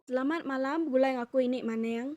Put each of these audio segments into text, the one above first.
Selamat malam begulai ngaku ini maning.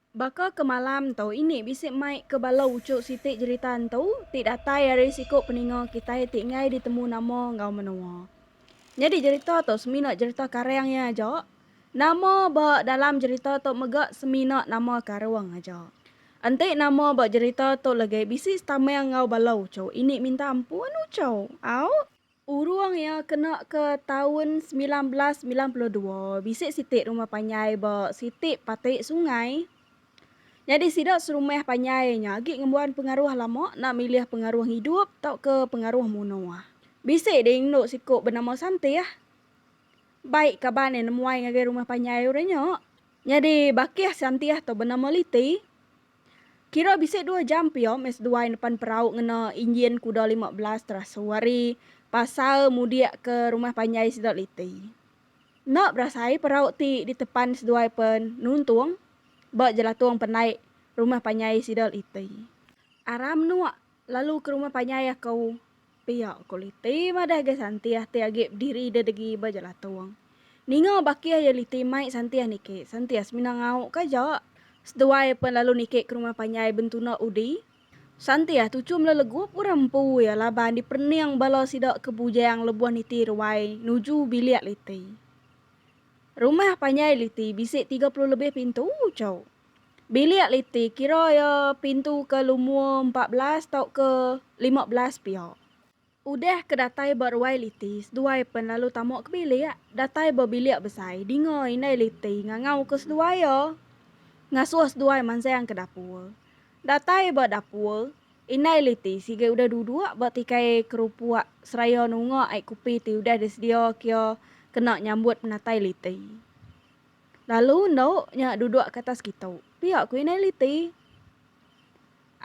Baka ke malam entu ini bisi mai ke bala uchu siti jerita entu ti datai ari siku peninga kitai ti enggai ditemu nama enggau menoa. Nyadi jerita tu semina jerita karang iya aja. Nama ba dalam jerita tu mega semina nama karung aja. Enti nama ba jerita tu legi bisi setamang enggau bala uchu ini minta ampun uchu. Au. Urung iya kena ke taun semilan belas semilan puluh dua, bisi siti rumah panjai ba siti pati sungai. Nyadi sida serumah panjai nya agi ngembuan pengaruh lama enda milih pengaruh ngidup tauka pengaruh munuh. Bisi ding enu siku benama Santih. Bai kaban iya nemuai ngagai rumah panjai orang nya. Nyadi bakih Santih tu benama Liti. Kira bisi dua jam pia meh seduai nepan perau ngena injin kuda lima belas terasu ari pasar mudik ke rumah panjai sida liti. Enda berasai perau ti ditepan seduai pen nuntung ba jelatung penaik rumah panjai sida liti. Aram nuak lalu ke rumah panjai aku. Pia kuliti madah ga Santiah ti agi bediri dedegi ba jelatung. Ninga bakih iya liti mai Santiah niki, Santiah semina ngau ka aja. Seduai pen lalu niki ke rumah panjai Bentuna Udi. Santiah tuchum le legup orang empu iya laban diperening bala sida ke bujang lebuh niti ruai nuju bilik liti. Rumah panjai liti bisi tiga puluh lebih pintu, chau. Bilik liti kira iya pintu ke lumur empat belas tauka lima belas pia. Udah ke datai ba ruai liti, seduai pen lalu tama ke bilik. Datai ba bilik besai, dinga indai liti ngangauka seduai iya. Ngasuh seduai mansang ke dapur. Datai ba dapur, indai liti sigai udah duduk ba tikai kerupuk seraya nunga ai kopi ti udah disedia ke iya kena nyambut penatai liti. Lalu endo nya duduk ke atas kitu, pia ku Inai Liti.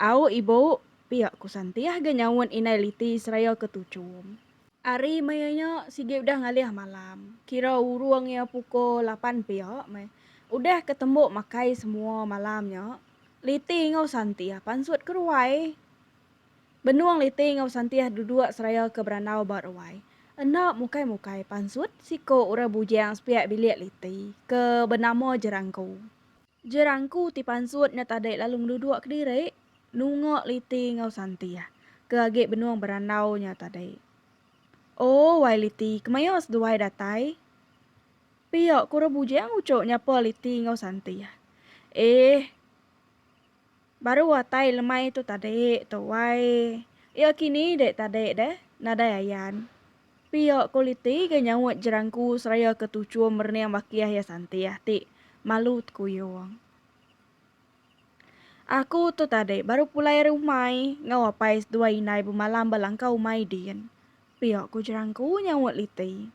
Au ibu, pia ku Santi ahga nyaut Inai Liti seraya ke tuchum. Ari maya nya sigi udah ngalih malam, kira urung iya pukul lapan pia meh. Udah ke tembu makai semua malam nya, Liti enggau Santi pansut ke ruai. Benung Liti enggau Santih duduk seraya ke berandau ba ruai. Enda mukai-mukai pansut siku orang bujang sepiak bilik Liti ke benama Jerangku. Jerangku ti pansut nya tadi lalu ngeduduk kediri nunga Liti enggau Santih ke agi benung berandau nya tadi. Oh, wai Liti, kemaya seduai datai? pia ku orang bujang uchu nyapa Liti enggau Santih. Eh, Baru atai lemai tu tadi tu wai. Iya kini dek tadi deh, nadai ayan. Pia kuliti ga nyaut jerangku seraya ke tuchum merening bakih iya santih ti malu tekuyung. Aku tu tadi baru pulai ari umai enggau apai seduai indai bemalam ba langkau umai din, pia ku jerangku nyaut liti.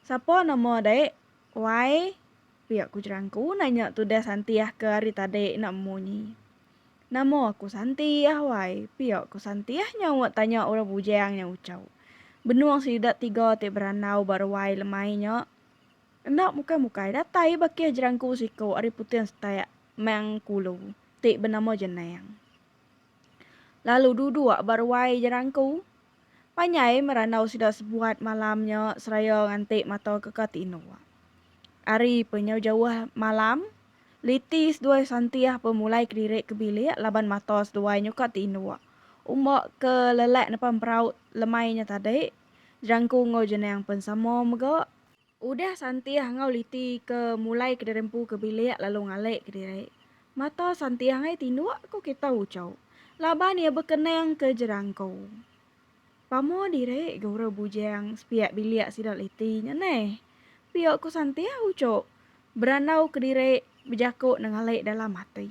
Sapa nama dek Wai, pia ku jerangku nanya tudah Santiah ke hari tadi enda munyi. Nama aku Santiah, wai, pia ku Santiah nyaut tanya orang bujang nya ucau. Benung sida tiga ti berandau ba ruai lemai nya. Enda mukai-mukai datai bakih jerangku siku ari Putin Setak, Mang Kulu, ti benama Jenang. Lalu duduk ba ruai jerangku. Panjai merandau sida sebuat malam nya seraya nganti mata ke ka tinduk. Ari penyau jauh malam, liti seduai Santih bemulai kediri ke bilik laban mata seduai nya ka tinduk. Umba ke lelak nepan peraut lemai nya tadi, Jerangku enggau Jenang pen sama mega. Udah Santih enggau Liti ke mulai kediri empu ke bilik lalu ngalik kediri. Mata Santih angai tinduk ku kitai Ucho laban iya bekenang ke jerangko. Pamo diri guru bujang sepiak bilik sida Liti nya neh. Pio ku Santih Ucho berandau kediri bejako nengalik dalam ati.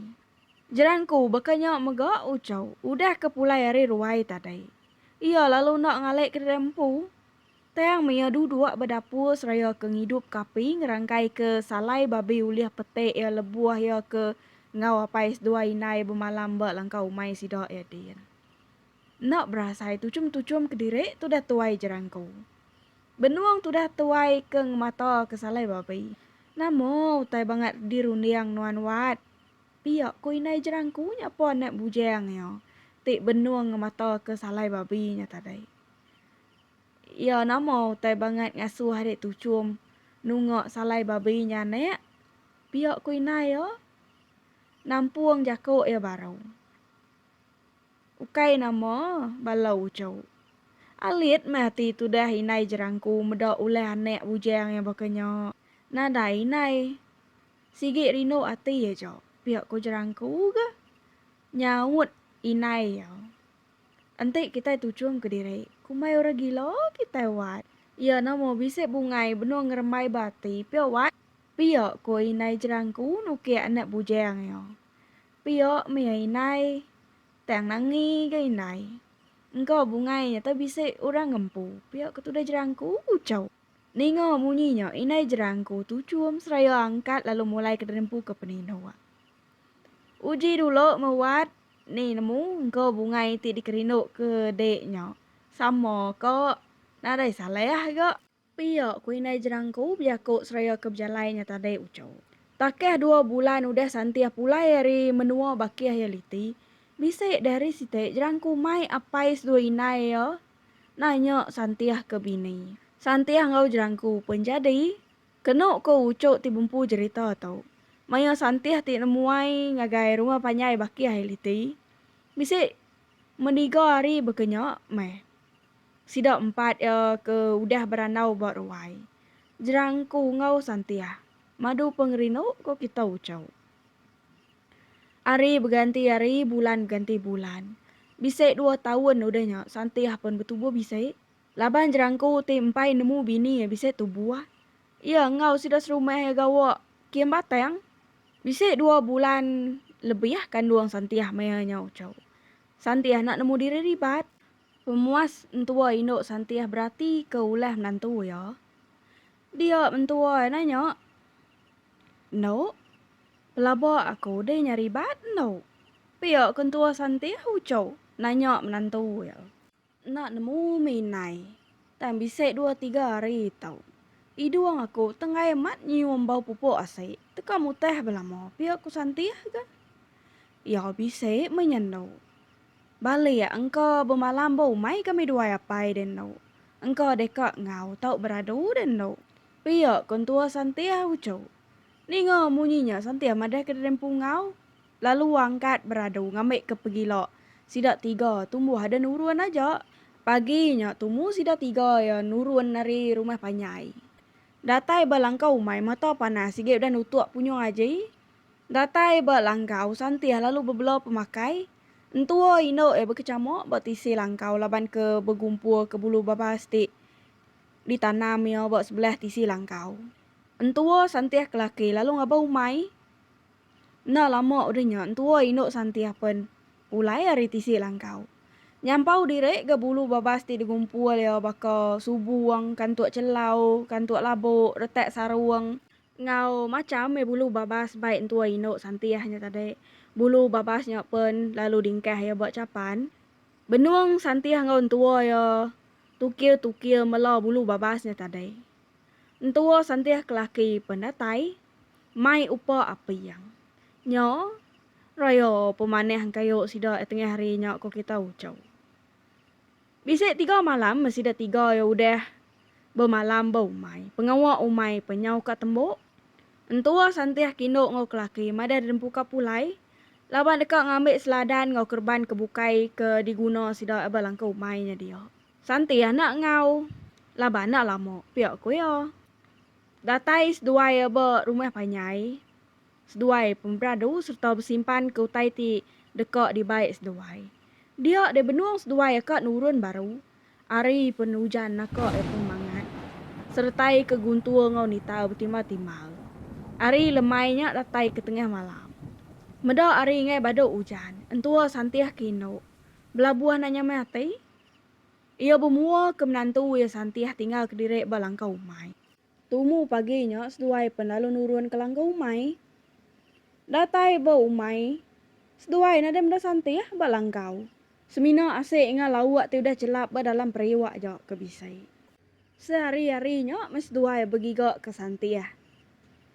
Jerangko baka nya mega Ucho udah ke pulai ari ruai tadi. Iya lalu enda ngalik kediri empu Tang maya duduk ba dapur seraya ke ngidup kapi ngerangkai ke salai babi ulih peti iya lebuh iya ke enggau apai seduai indai bemalam ba langkau umai sida iya din. Enda berasai tuchum-tuchum kediri tudah tuai jerangku. Benung tudah tuai ke ngemata ke salai babi. Nama utai bangat dirunding nuan Wat? Pia ku indai jerangku nyapa anak bujang iya ti benung ngemata ke salai babi nya tadi. Iya nama utai bangat ngasuh ari Tuchum nunga salai babi nya anak? Pia ku indai iya. Nampung jaku iya baru. Ukai nama bala uchu. Alit meh ati tudah indai Jerangku meda ulah anak bujang iya baka nya. Nadai indai. Sigi rindu ati aja, pia ku Jerangku ga nyaut indai iya. Enti kitai tuchum ke diri, kumbai orang gila kitai wat. Iya nama bisi bungai benung ngerembai ba ati pia wat? Pia, ko indai jerangku nukik anak bujang iya. Pia mia indai. Tang nangi ga indai. Engka bungai nyata bisi orang ngempu, pia ke tudah jerangku ucau. Ninga munyi nya indai jerangku tuchum seraya angkat lalu mulai ke nempu ke penindu. Uji dulu meh wat Ni nemu engka bungai ti dikerinduka dek nya. Sama ka nadai salah ga. Pia ku indai jerangku bejaku seraya ke bejalai nya tadi uchu. Takah dua bulan udah Santih pulai ari menua bakih iya liti, bisi deh ari siti jerangku mai apai seduai indai iya nanya Santih ke bini. Santih enggau jerangku pen jadi. Kenu ko uco ti bempu jerita tu, maya Santih ti nemuai ngagai rumah panjai baki ai liti, bisi meniga hari baka nya meh. Sida empat iya ke udah berandau ba ruai Jerang ko enggau Santih madu pengerindu ko kita uco. Hari beganti hari, bulan beganti bulan. Bisi dua taun udah nya Santih pen betubuh bisi Laban Jerangko ti empai nemu bini iya bisi tubu ah. Iya enggau sida serumah iya gawa Kin Batang bisi dua bulan lebih ah kandung Santiah maya nyau chau. Santiah enda nemu diri ribat. Pemuas entua indu Santiah beratika ulah menantu iya. Dia mentua iya nanya, Endu, pelaba aku deh nya ribat endu? Pia ke entua Santiah uchu nanya menantu iya. Enda nemu mih indai. Tang bisi dua tiga hari tau. Hidung aku tenggai amat nyium bau pupuk asi teka mutah belama pia ku Santih ga. Iya bisi mih nya enda. Balik engka bemalam ba umai kami duai apai deh enda. Engka deka enggau tau beradu deh enda. Pia ku entua Santih uchu. Ninga munyi nya Santih madah ke diri empu enggau. Lalu angkat beradu ngambi ke pegila. Sida tiga tumbuh ada nurun aja. Pagi nya tumu sida tiga iya nurun ari rumah panjai. Datai ba langkau umai mata panas sigi udah nutuk punyung aji. Datai ba langkau santih lalu bebela pemakai. Entua indu iya bekecamuk ba tisi langkau laban ke begumpur ke bulu babas ti ditanam iya ba sebelah tisi langkau. Entua santih ke laki lalu ngabau umai. Enda lama udah nya entua indu Santih pen ulai ari tisi langkau. Nyampau diri ga bulu babas ti digumpul iya baka subung, kantuk chelau, kantuk labu, retak sarung, enggau macham meh bulu babas bai entua indu Santih nya tadi bulu babas nya pen lalu dingkah iya ba chapan. Benung Santih enggau entua iya tukir-tukir mela bulu babas nya tadi. Entua Santih kelaki pen datai mai upa api iya. Nya raya pemanah engkayu sida iya tengah hari nya ko kita ucau. Bisi tiga malam meh sida tiga iya udah bemalam ba umai. Pengawa umai pe nyau ka tembu. Entua Santih kindu enggau kelaki madah dempu ka pulai laban deka ngambi seladan enggau kereban ke bukai ke diguna sida iya ba langkau umai nya dia. Santih enda enggau laban enda lama pia ko iya. Datai seduai ba rumah panjai seduai pemeradu sereta besimpan ke utai ti deka dibai seduai. Dia deh benung seduai ka nurun baru ari penujan naka iya pun mangat seretai ke guntur enggau nitau betimbal-timbal. Ari lemai nya datai ke tengah malam. Meda ari enggai badu ujan, entua santih ke indu belabuh enda nyamai ati. Iya bemua ke menantu iya Santih tinggal kediri ba langkau umai. Tumu pagi nya seduai pen lalu nurun ke langkau umai. Datai ba umai, seduai nadai meda Santih ba langkau. Semina asik enggau lauk ti udah chelap ba dalam periuk aja ke bisi. Sehari-hari nya meh seduai begigaka Santih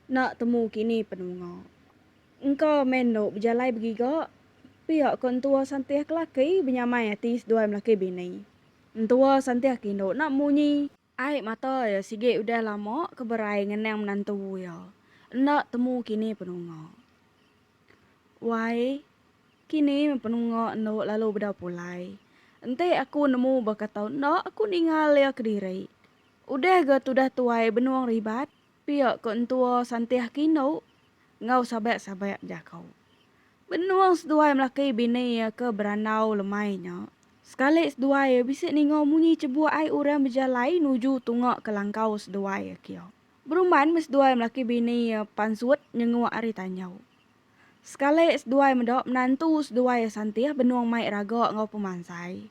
enda temu kini penunga. Engka meh endo bejalai begiga pia ko entua santih kelaki benyamai ati seduai melaki bini. Entua santih ke endo enda munyi. Ai mata iya sigi udah lama ke berai ngenang menantu iya enda temu kini penunga. Wai kini meh penunga endo lalu beda pulai. Enti aku nemu baka tau enda aku ningal iya kediri. Udah ga tudah tuai benung ribat Pia ko entua Santih Kino enggau sabak-sabak jaku. Benung seduai melaki bini iya ke berandau lemai nya, sekali seduai iya bisi ninga munyi chebuk ai orang bejalai nuju tunga ke langkau seduai iya kia. Berumban meh seduai melaki bini iya pansut nyenguk ari tanjau. Sekali seduai meda menantu seduai Santih benung mai raga enggau pemansai.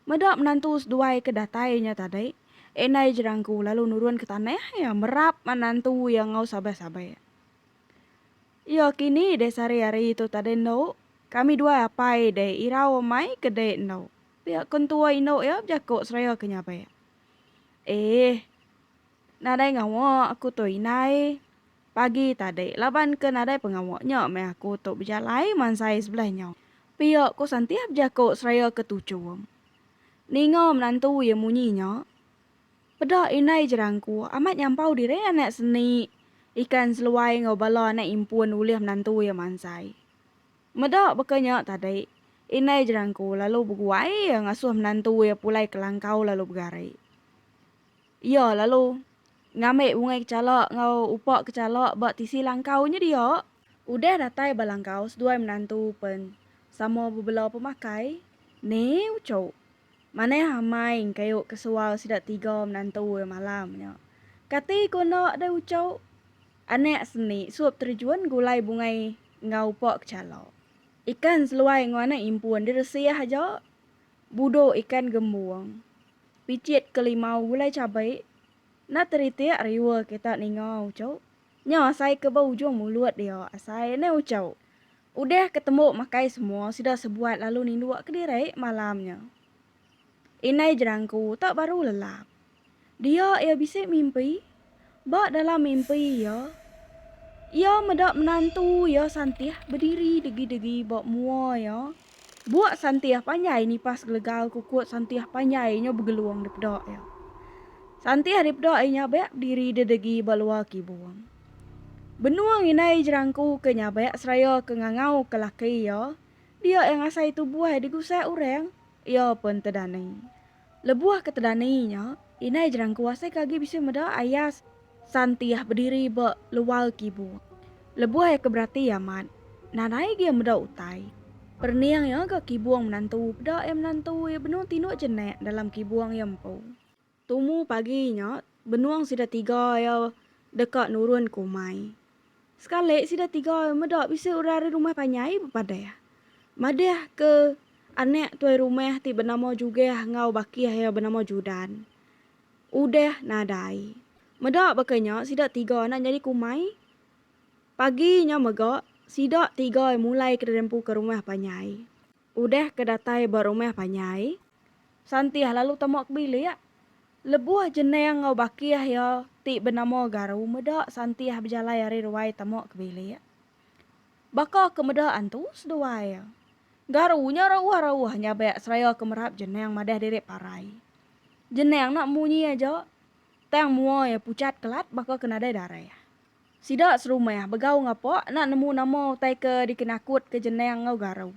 Meda menantu seduai ke datai nya tadi, indai Jerangku lalu nurun ke tanah iya merap menantu iya enggau sabeh-sabeh. Iya kini deh sehari hari tu tadi endo, kami duai apai deh irau amai ke deh endo. Pia ko entua indu iya bejako seraya ke nyabek. Eeh. Nadai ngawa aku tu indai. Pagi tadi, laban ke nadai pengawa nya meh aku tu bejalai mansai sebelah nya. Pia ko Santiah bejako seraya ke tuchum. Ninga menantu iya munyi nya, peda indai jerangku amat nyampau diri anak seni ikan seluai enggau bala anak impun ulih menantu iya mansai. Meda baka nya tadi, indai jerangku lalu beguai iya ngasuh menantu iya pulai ke langkau lalu begari. Iya lalu ngambi bungai kechala enggau upa kechala ba tisi langkau nya dia. Udah datai ba langkau seduai menantu pen sama bebela pemakai ne uchu. Manah amai engkayu ke sual sida tiga menantu iya malam nya. Kati ku enda deh uchu. Anak seni sup terjun gulai bungai enggau upa kechala. Ikan seluai enggau anak impun diresih aja. Budok ikan gembung. Pijit ke limau gulai cabai enda teritik riwa kita ninga uchu. Nya asai ke ba ujung mulut dia asai neh uchu. Udah ke tembu makai semua sida sebuat lalu ninduk kediri malam nya. Indai Jerangku tak baru lelap. Dia iya bisi mimpi. Ba dalam mimpi iya, iya meda menantu iya Santih bediri degi-degi ba mua iya. Buak Santih panjai nipas gelegal kukut Santih panjai nyo begelung dipeda iya. Santih dipeda iya nyabek bediri dedegi ba luar kibung. Benung indai jerangku ke nyabek seraya ke ngangau ke laki iya, dia iya ngasai tubuh digusah orang, iya pen tedani. Lebuh ke tedani nya, indai Jerangku asai ke agi bisi meda Ayas Santiah bediri ba luar kibu. Lebuh iya ke berati amat, nadai agi iya meda utai. Perening iya ga kibung menantu peda iya menantu iya benung tinduk jenik dalam kibung iya empu. Tumu pagi nya, benung sida tiga iya deka nurun ke umai. Sekali sida tiga meda bisi orang ari rumah panjai bepadah. Madah ke anak tuai rumah ti benama Jugah enggau baki iya benama Judan. Udah nadai. Meda baka nya sida tiga enda nyadi kumai. Pagi nya mega sida tiga mulaika rempu ke rumah panjai. Udah ke datai ba rumah panjai, Santiah lalu tama ke bilik. Lebuh jenang enggau bakih iya ti benama Garu meda Santiah bejalai ari ruai tama ke bilik, baka ke meda antu seduai iya. Garu nya rauh-rauh nyabak seraya ke merap jenang madah diri parai. Jenang enda munyi aja, tang mua iya pucat kelat baka ke nadai darah. Sida serumah begau ngapa enda nemu nama utai ke dikenakutka Jenang enggau Garu.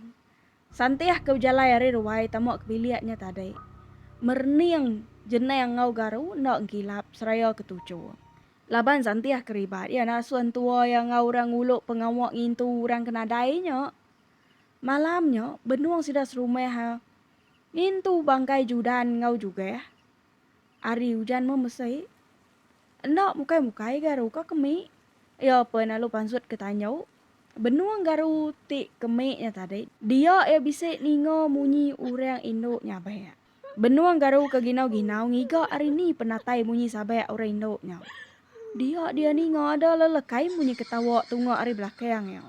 Santih ke bejalai ari ruai tama ke bilik nya tadi, merening Jenang enggau Garu enda engkilap seraya ke tuchu. Laban Santih keribat iya enda asuh entua iya enggau orang ngulu pengawa ngintu orang ke nadai nya. Malam nya, benung sida serumah ngintu bangkai Judan enggau Jugah, ari ujan meh mesei. Enda mukai-mukai garu ka kemi. Iya pen lalu pansut ke tanyo. Benung garu ti kemi nya tadi, dia iya bisi ninga munyi urang indu nyabak. Benung garu ke ginau-ginau ngiga ari ni penatai munyi sabak urang indu nya. Dia dia ninga ada lelekai munyi ketawa tunga ari belakang iya.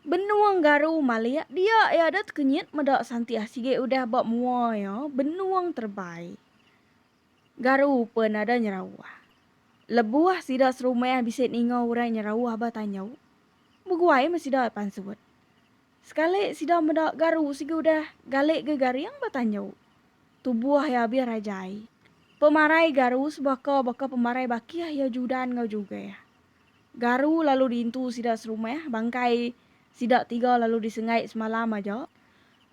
Benua Engaru malik dia iya dut kenyit meda Santiah sigi udah ba mua iya benua terebai. Garu pun ada nyerauh. Lebuh sida serumah bisi ninga orang nyerauh ba tanjau, beguai meh sida pansut. Sekali sida meda Garu sigi udah gali ga garing ba tanjau, tubuh iya abih rajai. Pemarai Garu sebaka baka pemarai bakih iya Judan enggau Jugeh. Garu lalu diintu sida serumah, bangkai sida tiga lalu disengai semalam aja.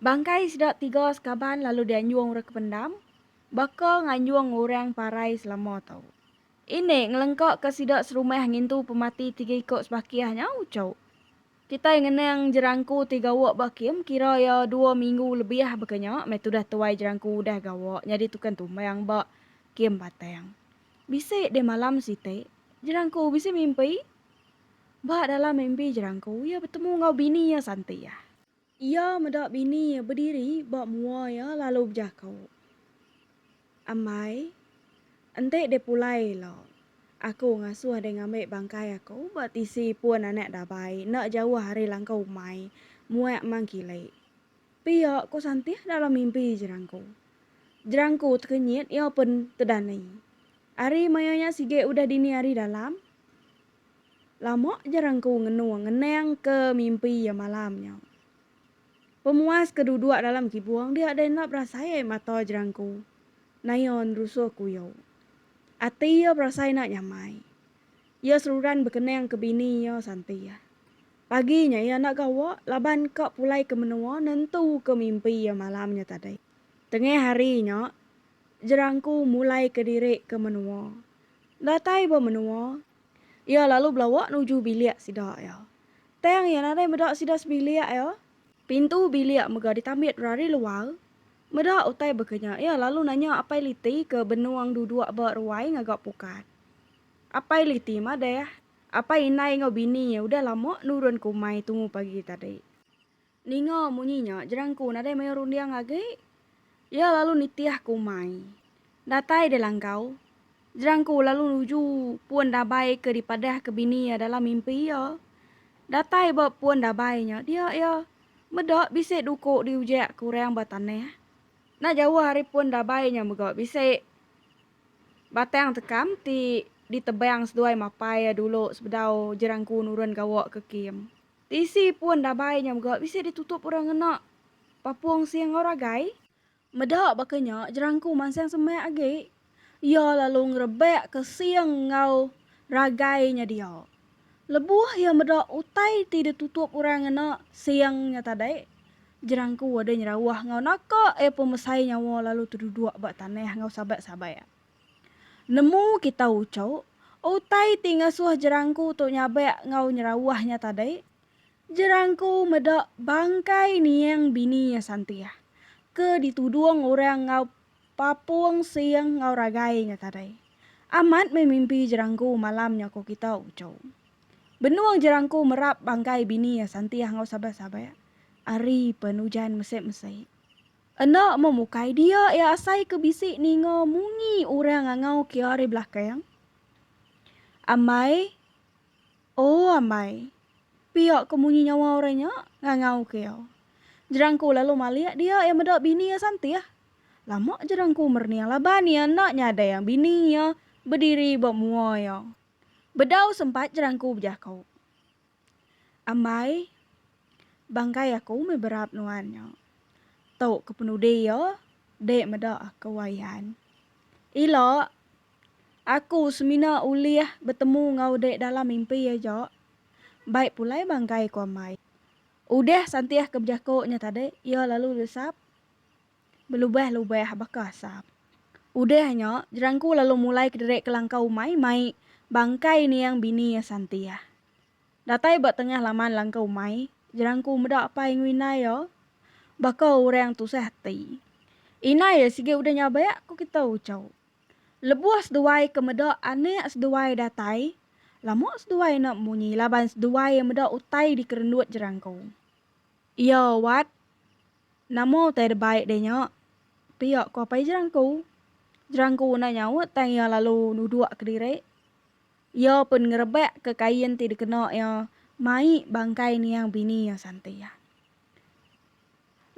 Bangkai sida tiga sekaban lalu dianjung orang ke pendam, baka nganjung orang parai selama tu. Ini ngelengka ke sida serumah ngintu pemati tiga iko sebakih nya uchu. Kitai ngenang Jerangku ti gawa ba kem kira iya dua minggu lebih baka nya meh tudah tuai Jerangku udah gawa nyadi tukang tumbang ba Kem Batang. Bisi deh malam siti, Jerangku bisi mimpi. Ba dalam mimpi Jerangku, iya betemu enggau bini iya Santi iya. Iya meda bini iya bediri ba mua iya lalu bejaku, Ambai, enti deh pulai ila, aku ngasuh deh ngambi bangkai aku ba tisi pun anak dabai enda jauh ari langkau umai, muak mangkilik. Pia ko Santih dalam mimpi Jerangko. Jerangko tekenyit iya pen tedani. Ari maya nya sigi udah dini ari dalam. Lama Jerangko ngenung ngenang ke mimpi iya malam nya. Pemuas ke duduk dalam kibung dia dai enda berasai ai mata Jerangko naya nerusuh kuyo. Ati iya berasai enda nyamai. Iya seruran bekenang ke bini iya Santih. Pagi nya iya enda gawa laban ka pulai ke menua nentuka mimpi iya malam nya tadi. Tengah hari nya, Jerangku mulai kediri ke menua. Datai ba menua, iya lalu belawa nuju bilik sida iya. Tang iya nadai meda sida sebilik iya. Pintu bilik mega ditambit dulu ari luar. Meda utai baka nya, iya lalu nanya Apai Liti ke benung duduk ba ruai ngaga pukat. Apai Liti madah, Apai indai enggau bini iya udah lama nurun ke umai tumu pagi tadi. Ninga munyi nya, Jerangku nadai mayuh runding agi. Iya lalu nitih ke umai. Datai deh langkau. Jerangku lalu nuju pun dabai ke dipadahka bini iya dalam mimpi iya. Datai ba pun dabai nya, dia iya meda bisi duku diujakka orang ba tanah. Enda jauh ari pun dabai nya mega bisi. Batang tekam ti ditebang seduai mapai iya dulu sebedau Jerangku nurun gawa ke kem. Tisi pun dabai nya mega bisi ditutup orang ngena Papong Sing enggau Ragai. Meda baka nya, Jerangku mansang semak agi. Iya lalu ngerebak ke Sing enggau Ragai nya dia. Lebuh iya meda utai ti ditutup orang ngena Siang nya tadi, Jerangku ada nyerawah enggau naka iya pemesai nyawa lalu teduduk ba tanah enggau sabat-sabat. Nemu kita uchok, utai ti ngasuh Jerangku tu nyabak enggau nyerawah nya tadi, Jerangku meda bangkai niang bini iya Santih ke ditudung orang enggau Papung Sing enggau Ragai nya tadai. Amat meh mimpi Jerangku malam nya ko kita, ucau. Benung Jerangku merap bangkai bini iya Santih enggau Sabah-sabah ari pen ujan mese-mese. Enda meh mukai dia iya asai ke bisi ninga munyi orang ngangau kia ari belakang. Amai. Oh ambai. Pia ke munyi nyawa orang nya ngangau ke iya. Jerangku lalu malik dia iya meda bini iya santih. Lama jerangku mernia laban iya enda nyadai yang bini iya bediri ba mua iya. Bedau sempat jerangku bejako. Ambai. Bangkai aku meh berap nuan nya. Tu kepenudi iya dek meda aku ayan. Ila. Aku semina ulih betemu enggau dek dalam mimpi aja. Baik pulai bangkai ku amai. Udah santih ke bejako nya tadi iya lalu desap belubah-lubah baka asam. Udah nya jerangku lalu mulai kederek kelangkau umai mai bangkai niang bini iya santih. Datai ba tengah laman langkau umai jerangku meda apai enggau indai iya baka orang tusah ati. Indai iya sigi udah nyabak ku kita uchauk. Lebuh seduai ke meda anak seduai datai, lama seduai enda bemunyi laban seduai meda utai dikerendut jerangku. Iya, Wat, nama utai da baik deh nya? Pia ku apai jerangku. Jerangku enda nyaut tang iya lalu duduk kediri. Iya pun ngerebak ke kain ti dikena iya mai bangkai niang bini iya Santi.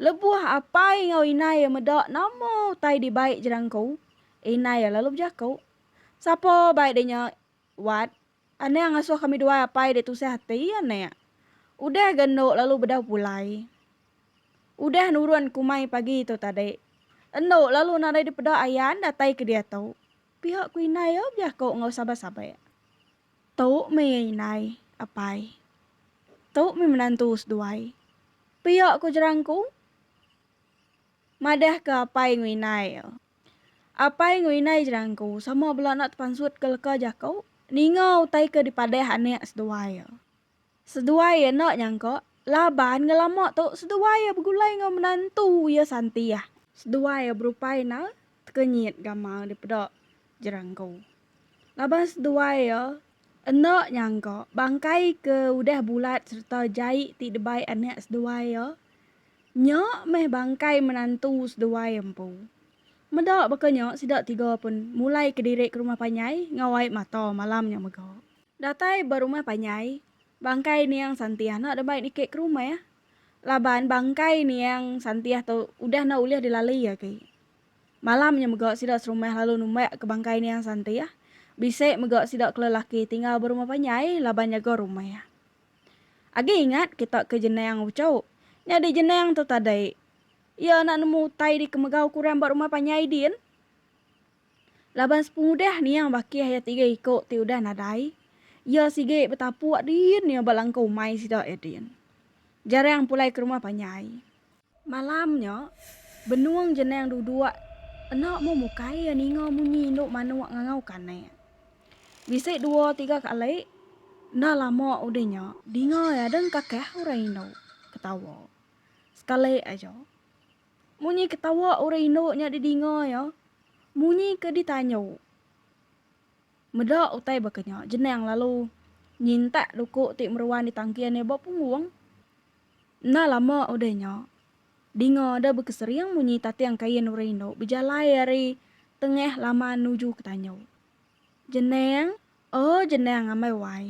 Lebuh apai enggau inai iya meda nama utai dibai jerangku, inai iya lalu bejaku, Sapa bai deh nya, Wat? Anek ngasuh kami duai apai deh tusah ati, anek. Udah ga endo lalu bedau pulai. Udah nurun kumai pagi tu tadi. Endo lalu nadai dipeda ayan datai ke diatu, pihak ku inai iya bejaku enggau sabar-sabar. Tu mih iya indai, apai. Tu mih menantu seduai. Pia ku jerangku. Madahka apai enggau indai iya. Apai enggau indai jerangku sama bela enda tepansutka leka jaku ninga utai ke dipadah anak seduai iya. Seduai iya enda nyangka laban ngelama tu seduai iya begulai enggau menantu iya Santih. Seduai iya berupai enda tekenyit gamal dipeda Jerangko laban seduai iya enda nyangka bangkai ke udah bulat sereta jai ti dibai anak seduai iya nya meh bangkai menantu seduai iya empu. Meda baka nya sida tiga pun mulai kediri ke rumah panjai enggau ai mata malam nya mega. Datai ba rumah panjai, bangkai Niang Santiah enda deba dikek ke rumah laban bangkai Niang Santiah tu udah enda ulih dilalui agi. Malam nya mega sida serumah lalu numbak ke bangkai Niang Santiah, bisi mega sida ke lelaki tinggal ba rumah panjai laban nyaga rumah. Agi ingat kita ke Jenang Ucho, nyadi Jenang tu tadi iya enda nemu utai dikemegau ke orang ba rumah panjai din. Laban sepengudah niang bakih iya tiga iko ti udah nadai, iya sigi betapu adin iya ba langkau umai sida iya din. Jarang pulai ke rumah panjai. Malam nya, benung jenang duduk enda mu mukai iya ninga munyi indu manuk ngangau ke anak. Bisi dua tiga kali, enda lama udah nya, dinga iya dengkakah orang indu ketawa sekali aja. Munyi ketawa orang indu nya didinga iya, munyi ke ditanyu. Meda utai baka nya, Jenang lalu nyintak duku ti meruan di tangkin iya ba punggung. Enda lama udah nya, dinga ada bekesering munyi tating kain orang indu bejalai ari tengah laman nuju ke tanyu. Jenang, oh Jenang amai wai.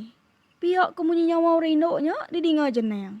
Pia ke munyi nyawa orang indu nya didinga Jenang.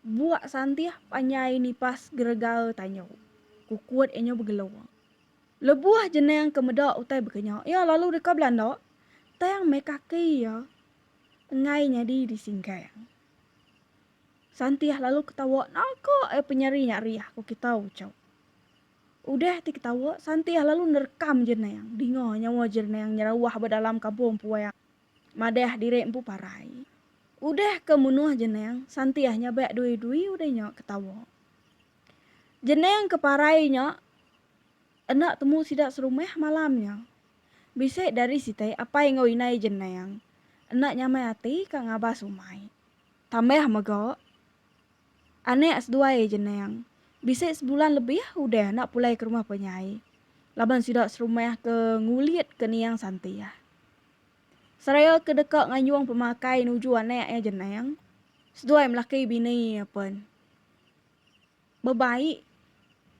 Buak santih panjai nipas geregae tanyu, kukut enyu begelung. Lebuh jenang ke meda utai bekenya iya lalu deka belanda, tang meh kaki iya enggai nyadi disingkang. Santih lalu ketawa naka ai penyeri nya riah ku kita uchu. Udah ti ketawa, Santih lalu nerekam jenang dinga nyawa jenang nyerawah ba dalam kampung puang. Madah diri empu parai. Udah ke munuh jenang, Santiah nya ba dui-dui udah nya ke tawa. Jenang ke parai nya enda temu sida serumah malam nya. Bisi dari sitai apai enggau indai jenang enda nyamai ati ka ngabas umai. Tambah mega, anak seduai jenang bisi sebulan lebih udah enda pulai ke rumah penyai laban sida serumah ke ngulit ke niang Santiah. Seraya ke deka nganjung pemakai nuju anak iya jenang, seduai melaki bini iya pen bebaik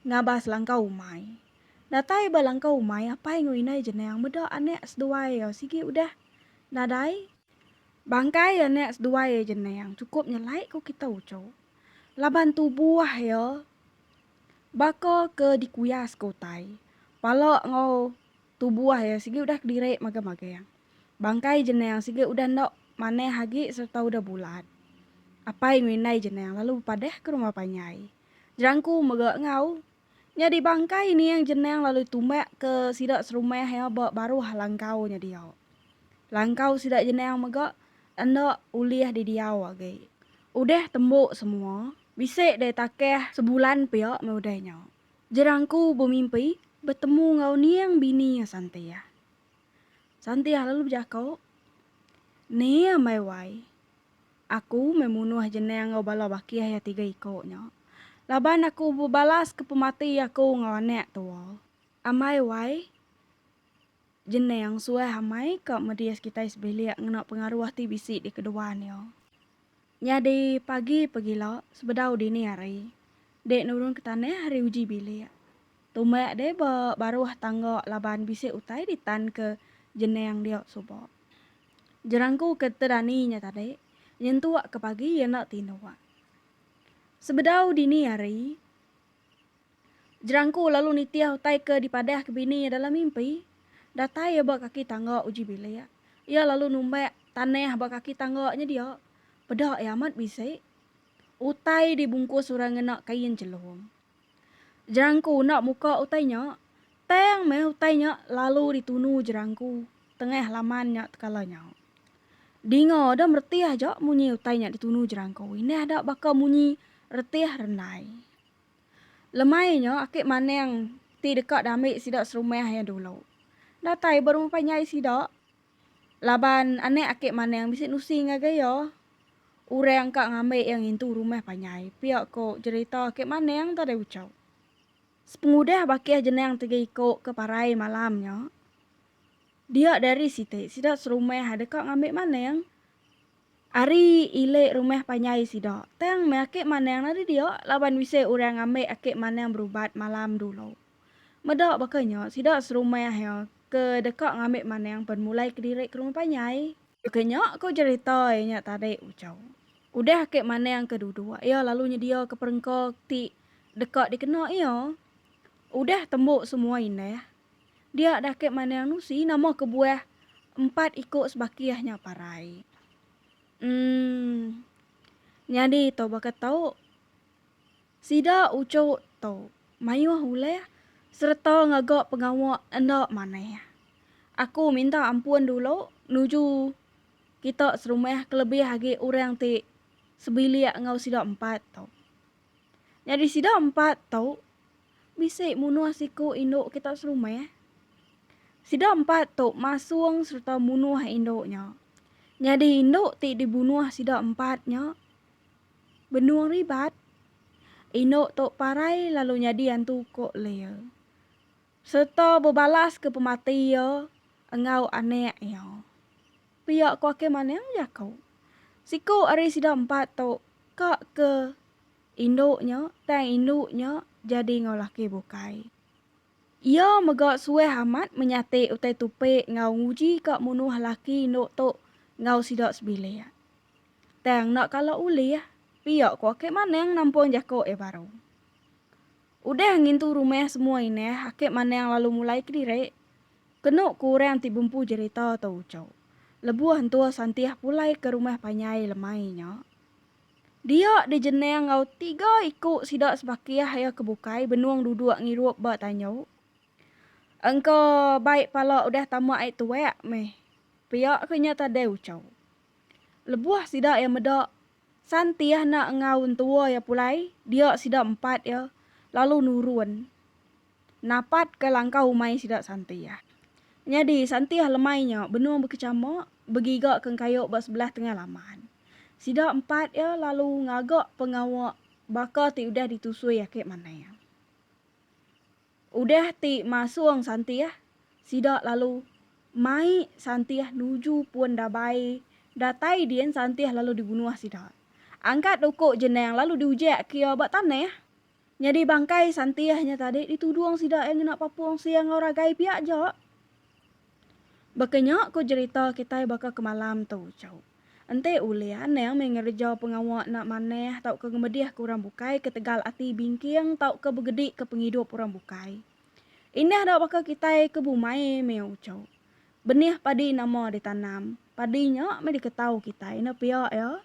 ngabah selangkau umai. Datai ba langkau umai apai enggau indai jenang meda anak seduai iya sigi udah nadai. Bangkai anak seduai iya jenang chukup nyelai ku kitai uchu laban tubuh iya baka ke dikuyas ke utai, pala enggau. tubuh iya sigi udah kediri magam-magam. Bangkai Jeneng sigi udah enda manah agi sereta udah bulat. Apai enggau indai Jeneng lalu bepadah ke rumah panjai. Jerangku mega enggau. Nyadi bangkai ining Jeneng lalu tumbak ke sida serumah iya ba baruh langkau nya dia. Langkau sida Jeneng mega enda ulih didiau agi. Udah tembu semua, bisi deh takah sebulan pia meh udah nya. Jerangku bemimpi betemu enggau Niang bini iya Santiah. Santiah lalu bejako, Ni ambai wai, aku meh munuh Jenang enggau bala bakih iya tiga iko nya, laban aku bebalaska pemati aku enggau anak tua. Ambai wai, Jenang suah amai ka medis kitai sebilik ngena pengaruh ti bisi dikeduan iya. Nyadi pagi pegila sebedau dini hari dek nurun ke tanah ari uji bilik. Tumak dek ba baruh tangga laban bisi utai ditan ke jenang dia suba. Jerangku ke tedani nya tadi nyentuk ke pagi iya enda tinduk. Sebedau dini hari. Jerangku lalu nitih utai ke dipadahka bini iya dalam mimpi. Datai iya ba kaki tangga uji bilik. Iya lalu numbak tanah ba kaki tangga nya dia. Peda iya amat bisi. Utai dibungkus orang ngena kain chelum. Jerangku enda muka utai nya. Tang meh utai nya lalu ditunu jerangku tengah laman nya tekala nya. Dinga deh meretih aja munyi utai nya ditunu jerangku indah da baka munyi retih rendai. Lemai nya ake maneng ti deka diambi sida serumah iya dulu. Datai ba rumah panjai sida laban anak ake maneng bisi nusi ngagai iya. Orang ka ngambi iya ngintu rumah panjai pia ko jerita ake maneng tadi uchup. Sepengudah bakih jenang tiga iko ke parai malam nya dia dari siti sida serumah deka ngambi maneng. Ari ili rumah panjai sida. Tang meh ake manang ari dia laban bisi orang ambi ake manang berubat malam dulu. Meda baka nya sida serumah iya ke deka ngambi manang pen mulai kediri ke rumah panjai. Baka nya ku cherita iya nya tadi Ucau. Udah ake manang ke duduk iya lalu nyedia ke perengka ti deka dikena iya. Udah tembu semua indah Dia dah ke manang nusi nama kebuah empat iko sebakih nya parai. Umm. Nyadi to baka to. Sida ucho to maioh ulih sereta ngaga pengawa enda manah. Aku minta ampun dulu nuju kita serumah kelebih agi orang ti sebilik enggau sida empat to. Nyadi sida empat to. bisi munuh siku indu kitak serumah. Sida empat tu masung sereta munuh indu nya. Nyadi indu ti dibunuh sida empat nya benung ribat. Indu tu parai lalu nyadi antu uko Lia sereta bebalaska pemati iya enggau anak iya. Pia ko Akei Manang jaku, siku ari sida empat tu ka ke. indu nya tang indu nya jadi enggau laki bukai. Iya mega suah amat menyati utai tupi enggau nguji ka munuh laki indu tu enggau sida sebilik. Tang enda kala ulih, pia ku Akik Manang nampung jaku iya baru. Udah ngintu rumah semua inah, Akik Manang lalu mulai kediri. Kenu ku orang ti bempu jerita tu uchu, lebuh entur Santih pulai ke rumah panjai lemai nya, Dia dijenang enggau tiga iku sida sebakih iya ke bukai benung duduk ngirup ba tanyu. Engka bai pala udah tama ai tuak meh pia ke nya tadai ucau. Lebuh sida iya meda, Santih enda enggau entua iya pulai, dia sida empat iya lalu nurun. Napat ke langkau umai sida Santiah. Nyadi, Santiah lemai nya benung bekechama begiga ke engkayu ba sebelah tengah laman. Sida empat iya lalu ngaga pengawa baka ti udah ditusui ake Manang. Udah ti masung Santiah, sida lalu mai Santiah nuju pun Dabai. Datai din Santiah lalu dibunuh sida. Angkat uku Jenang lalu diujak ke iya ba tanah. Nyadi bangkai Santih nya tadi ditudung sida iya ngena papung sia enggau ragai pia aja. Baka nya ku jerita kitai baka ke malam tu, chau. Enti ulih anang meh ngereja pengawa enda manah tauka ngemedihka orang bukai ketegal ati bingking tauka begedika pengidup orang bukai. Indah da baka kitai ke bumai meh uchu. Benih padi nama ditanam, padi nya meh diketau kitai enda pia iya.